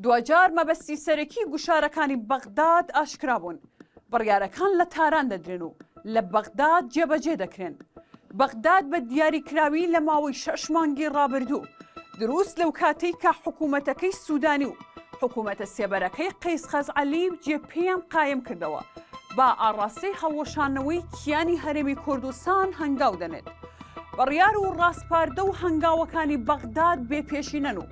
دواجار مەبەستی سەرەکی گوشارەکانی بەغداد ئاشکرابوون، بڕیارەکان لە تاران دەدرێن و لە بەغداد جێبەجێ دەکرێن. بەغداد بە دیاری کراوی لە ماوەی شەش مانگی ڕابردوو دروست لەو کاتەی کە حکوومەتەکەی سوودانی و حکوومەتە سێبەرەکەی قەیس خەزعەلی و جێ پێیان قایم کردەوە، با ئاڕاستەی هەڵوەشانەوەی کیانی هەرێمی کوردستان هەنگاو دەنێت. بڕیار و ڕاسپاردە و هەنگاوەکانی بەغداد بێ پێشینەن و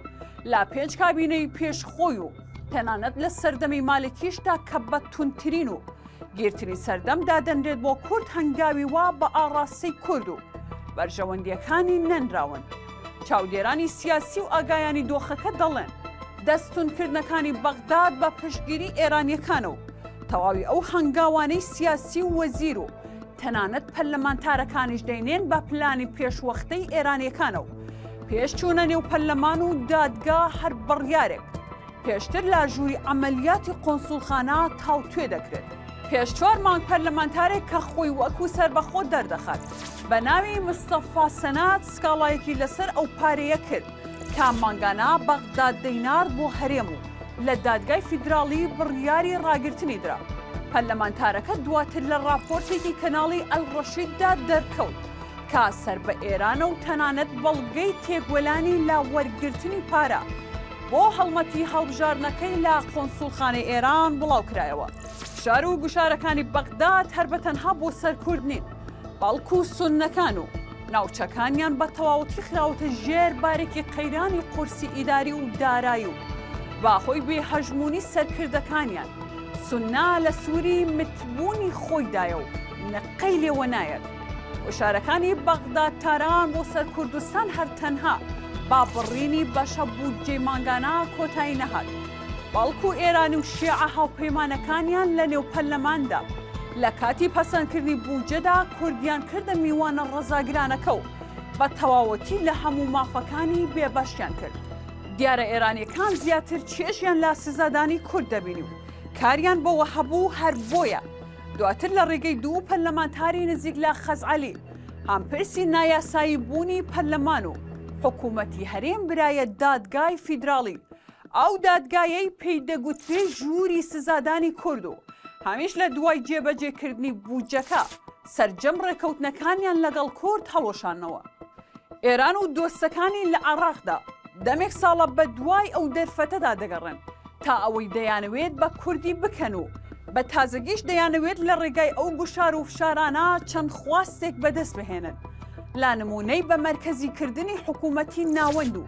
لا پێنج کابینەی پێش خۆی و تەنانەت لە سەردەمی مالکیشدا کە بە تونترین و گیرترین سەردەم دادەنرێت بۆ کورد هەنگاوی وا بە ئاڕاستەی کورد و بەرژەوەندیەکانی نەنراون. چاودێرانی سیاسی و ئاگایانی دۆخەکە دەڵێن، دەستونکردنەکانی بەغداد بە پشتگیری ئێرانییەکانە و تەواوی ئەو هەنگاوانەی سیاسی و وەزیر و تەنانەت پەرلەمانتارەکانیش دەینێن بە پلانی پێشوەختەی ئێرانییەکانە و پێش چوونە نێو پەرلەمان و دادگا هەر بڕیارێک پێشتر لە ژووری عەمەلیاتی قۆنسوڵخانە تاوتوێ دەکرێت. پێش چوار مانگ پەرلەمانتارێک کە خۆی وەکو سەربەخۆ دەردەخات بە ناوی مستەفا سەنات سکاڵایەکی لەسەر ئەو پارەیە کرد کە مانگانە بەغداد دەینارد بۆ هەرێم و لە دادگای فیدراڵی بڕیاری ڕاگرتنی درا. پەرلەمانتارەکە دواتر لە ڕاپۆرتێکی کەناڵی ئەلڕەشیددا دەرکەوت کە سەر بە ئێرانە و تەنانەت بەڵگەی تێکۆلانی لە وەرگرتنی پارە بۆ هەڵمەتی هەڵبژاردنەکەی لە قونسوڵخانەی ئێران بڵاوکرایەوە. فشار و گوشارەکانی بەغداد هەر بە تەنها بۆ سەر کورد نین، بەڵکو سوننەکان و ناوچەکانیان بە تەواوەتی خراوەتە ژێر بارێکی قەیرانی قورسی ئیداری و دارای و بە هۆی بێ هەژموونی سەرکردەکانیان سوننە لە سووری متبوونی خۆیدایە و قەی لێوە نایەت گوشارەکانی بەغدا تاران بۆ سەر کوردستان هەر تەنها با بڕینی بەشە بودجەی مانگانە کۆتایی نەهات بەڵکو ئێران و شیعە هاوپەیمانەکانیان لە نێو پەرلەماندا لە کاتی پەسەندکردنی بودجەدا کوردیان کردە میوانە ڕەزاگرانەکە و بە تەواوەتی لە هەموو مافەکانی بێبەشیان کرد دیارە ئێرانیەکان زیاتر چێژیان لە سزادانی کورد دەبینی و کاریان بەوە هەبوو هەر بۆیە دواتر لە ڕێگەی دوو پەرلەمانتاری نزیک لە خەزعەلی هەم پرسی نایاسایی بوونی پەرلەمان و حکوومەتی هەرێم برایە دادگای فیدراڵی ئەو دادگایەی پێی دەگوترێ ژووری سزادانی کورد و هەمیش لە دوای جێبەجێکردنی بودجەکە سەرجەم ڕێکەوتنەکانیان لەگەڵ کورد هەڵوەشانەوە. ئێران و دۆستەکانی لە عێڕاقدا دەمێک ساڵە بە دوای ئەو دەرفەتەدا دەگەڕێن تا ئەوەی دەیانەوێت بە کوردی بکەن و بە تازەگیش دەیانەوێت لە ڕێگای ئەو گوشار و فشارانە چەند خواستێک بەدەست بهێنن لا نمونەی بە مەرکەزیکردنی حکوومەتی ناوەند و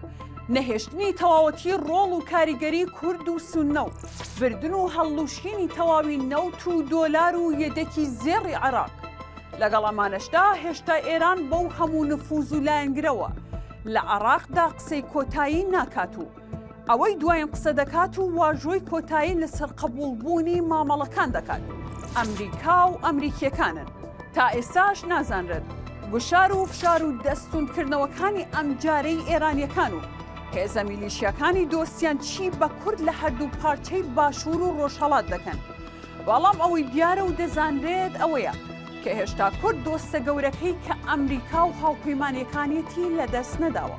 نەهێشتنی تەواوەتی ڕۆڵ و کاریگەری کورد و سونە و بردن و هەڵلوشینی تەواوی نەوت و دۆلار و یەدەکی زێڕی عێراق لەگەڵ ئەمانەشدا هێشتا ئێران بەو هەموو نفوز و لایەنگرەوە لە عراقدا قسەی کۆتایی ناکات و ئەوەی دوایین قسە دەکات و واژۆی کۆتایی لەسەر قبولبوونی مامەڵەکان دەکات ئەمریکا و ئەمریکیەکانن تا ئێستاش نازانرێت گوشار و فشار و دەستوندکردنەوەکانی ئەمجارەی ئێرانیەکان و هێزە میلیشیەکانی دۆستیان چی بە کورد لە هەردوو پارچەی باشوور و ڕۆژهەڵات دەکەن بەڵام ئەوەی دیارە و دەزانرێت ئەوەیە کە هێشتا کورد دۆستە گەورەکەی کە ئەمریکا و هاوپەیمانەکانیەتی لەدەست نەداوە.